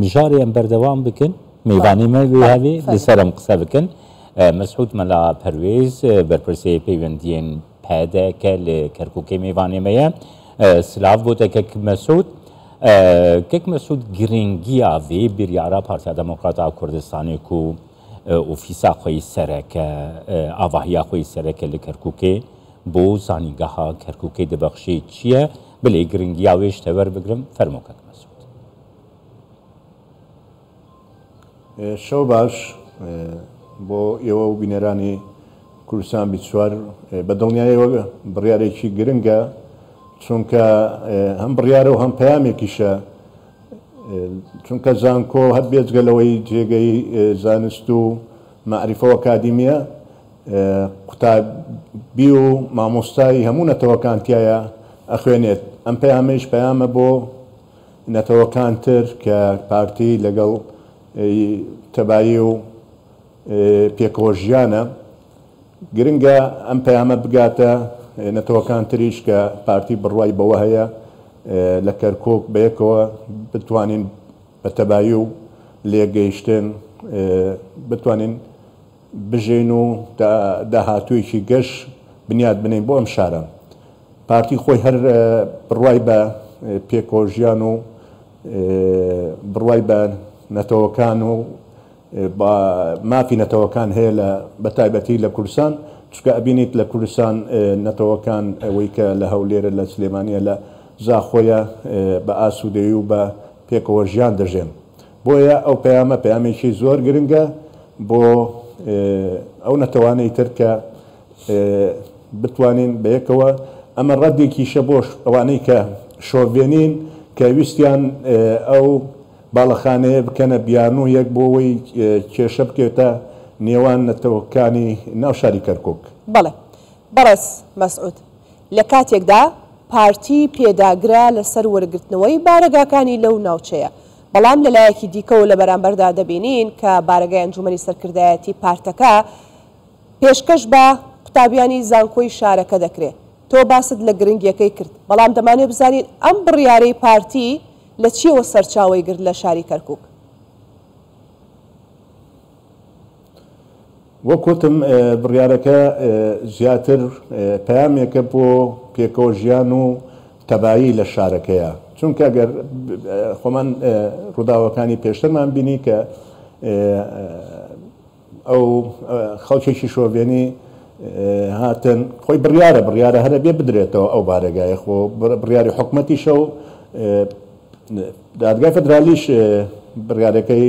مژاریان بەردەوام بکن میوانی مە وێهاوی لەسەرم قسە بکن مەسعود مەلا پەروێز بەرپرسی پەیوەندیان پەدەکە لە کەرکووکی میوانێمەیە سلااف بۆتە کەک مەسعود کەک مەسعود گرنگیا وێ بریارە پارتیا دەموکراتا کوردستانێک و ئۆفیسا خۆی سەرەکە ئاواهیا خۆی سەرەکە لە کەرکووکێ بۆ زانینگەها کەرکووکی دەبەخشێت چییە؟ بلێی گرنگی ئاوێ شتە وەر بگرم فەرموو کاک مەسعود. شەو باش بۆ ئێوە و بینەرانی کوردستان بیست چوار بە دڵنیایەوە بڕیارێکی گرنگە چونکە هەم بڕیارە و هەم پەیامێکیشە چونکە زانکۆ هەر بێجگە لەوەی جێگەی زانست و مەعریفە و ئەکادیمییە قوتابی و مامۆستای هەموو نەتەوەکان تیایا ئەخوێنێت ئەم پەیامەیش پەیامە بۆ نەتەوەکان تر کە پارتی لەگەڵ تەبایی و پێکەوە ژیانە گرنگە ئەم پەیامە بگاتە نەتەوەکان تریش کە پارتی بڕوای بەوە هەیە لە کەرکوک بەیەکەوە بتوانین بە تەبایی و لێکگەیشتن بتوانین بژین و داهاتوویەکی گەش بنیات بنێین بۆ ئەم شارە. پارتی خۆی هەر بڕوای بە پێکەوەژیان و بڕوای بە نەتەوەکان و مافی نەتەوەکان هەیە لە بەتایبەتی لە کوردستان، چونکە ئەبینیت لە کوردستان نەتەوەکان ئەوەی کە لە هەولێرە لە سلێمانیە لە زاخۆیە بە ئاسوودەیی و بە پێکەوەژیان دەژێن. بۆیە ئەو پەیامە پەیامێکی زۆر گرنگە بۆ ئەو نەتەوانەی تر کە بتوانین بەیەکەوە ئەمە ڕەدێکیشە بۆ ئەوانەی کە شۆڤێنین کە ویستیان ئەو باڵەخانەیە بکەنە بیانوویەک بۆ ئەوەی کێشە بکەوێتە نێوان نەتەوەکانی ناو شاری کەرکوک. بەڵێ بەڕێز مەسعود، لە کاتێکدا پارتی پێداگرە لەسەر وەرگرتنەوەی بارەگاکانی لەو ناوچەیە، بەڵام لە لایەکی دیکەوە لە بەرامبەردا دەبینین کە بارەگای ئەنجومەنی سەرکردایەتی پارتەکە پێشکەش بە قوتابیانی زانکۆی شارەکە دەکرێ. تۆ باست لە گرنگیەکەی کرد، بەڵام دەمانەوێ بزانین ئەم بڕیارەی پارتی لە چیەوە سەرچاوەی گرت لە شاری کەرکوک؟ وەک وتم بڕیارەکە زیاتر پەیامێکە بۆ پێکەوە ژیان و تەبایی لە شارەکەیە چونکە گەر خۆمان ڕووداوەکانی پێشترمان بینی کە ئەو خەڵکێکی شۆڤێنی هاتن خۆی بڕیارە بڕیارە هەرە بێ بدرێتەوە ئەو بارەگایە خۆ بڕیاری حکومەتیشە و دادگای فدرالیش بڕیارەکەی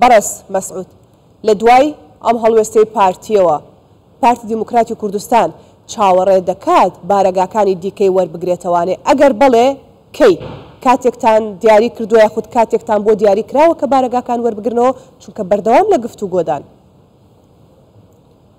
بەڕێز مەسعود لە دوای ئەم هەڵوێستەی پارتییەوە، پارتی دیموکراتی کوردستان چاوەڕێ دەکات بارەگاکانی دیکەی وەربگرێتەوانێ؟ ئەگەر بەڵێ، کەی؟ کاتێکتان دیاری کردووە یاخود کاتێکتان بۆ دیاری کراوە کە بارەگاکان وەربگرنەوە؟ چونکە بەردەوام لە گفتوگۆدان.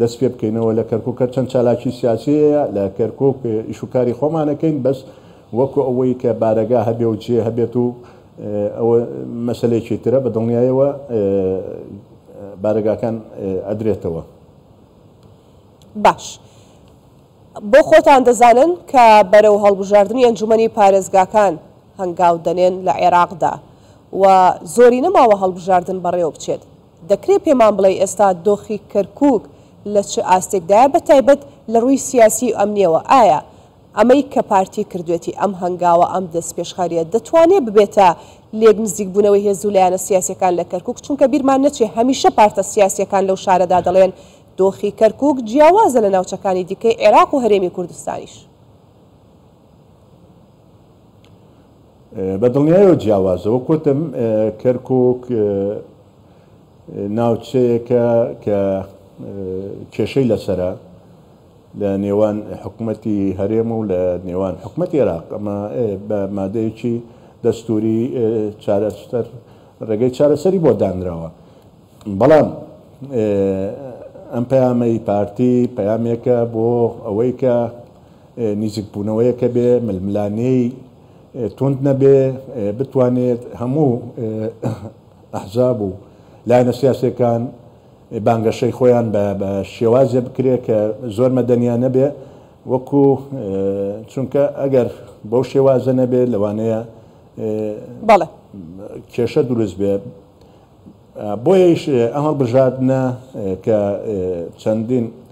دەست پێ بکەینەوە لە کەرکوک هەر چەند چالاکی سیاسی هەیە لە کەرکوک ئیش و کاری خۆمان ئەکەین بەس وەکو ئەوەی کە بارەگا هەبێ و جێ هەبێت و ئەوە مەسەلەیەکی ترە بە دڵنیایەوە بارەگاکان ئەدرێتەوە. باش بۆ خۆتان دەزانن کە بەرەو هەڵبژاردنی ئەنجومەنی پارێزگاکان هەنگاو دەنێن لە عێراقدا و زۆری نەماوە هەڵبژاردن بەڕێوە بچێت دەکرێت پێمان بڵێی ئێستا دۆخی کەرکوک لە چ ئاستێکدایە بە تایبەت لە ڕووی سیاسی و ئەمنیەوە ئایا ئەمەی کە پارتی کردوێتی ئەم هەنگاوە ئەم دەستپێشخەریە دەتوانێت ببێتە لێک نزیکبوونەوەی هێز و لایەنە سیاسیەکان لە کەرکوک چونکە بیرمان نەچێت هەمیشە پارتە سیاسیەکان لەو شارەدا دەڵێن دۆخی کەرکوک جیاوازە لە ناوچەکانی دیکەی عێراق و هەرێمی کوردستانیش بە دڵنیایەوە جیاوازە، وەک وتم کەرکوک ناوچەیەکە کە کێشەی لەسەرە لە نێوان حکومەتی هەرێم و لە نێوان حکومەتی عێراق، ئەمە بە مادەیەکی دەستوری چارەسەر ڕێگەی چارەسەری بۆ دانراوە، بەڵام ئەم پەیامەی پارتی پەیامێکە بۆ ئەوەی کە، نیزیک بوونەوەیەکە بێ ململانێی توند نەبێ بتوانێت هەموو ئەحزاب و لایەنە سیاسیەکان بانگەشەی خۆیان بە بە شێوازێ بکرێ کە زۆر مەدەنیانە بێ وەکو چونکە ئەگەر بەو شێوازە نەبێ لەوانەیە بەڵێ کێشە دروست بێ بۆیەیش ئەم هەڵبژاردنە کە چەندین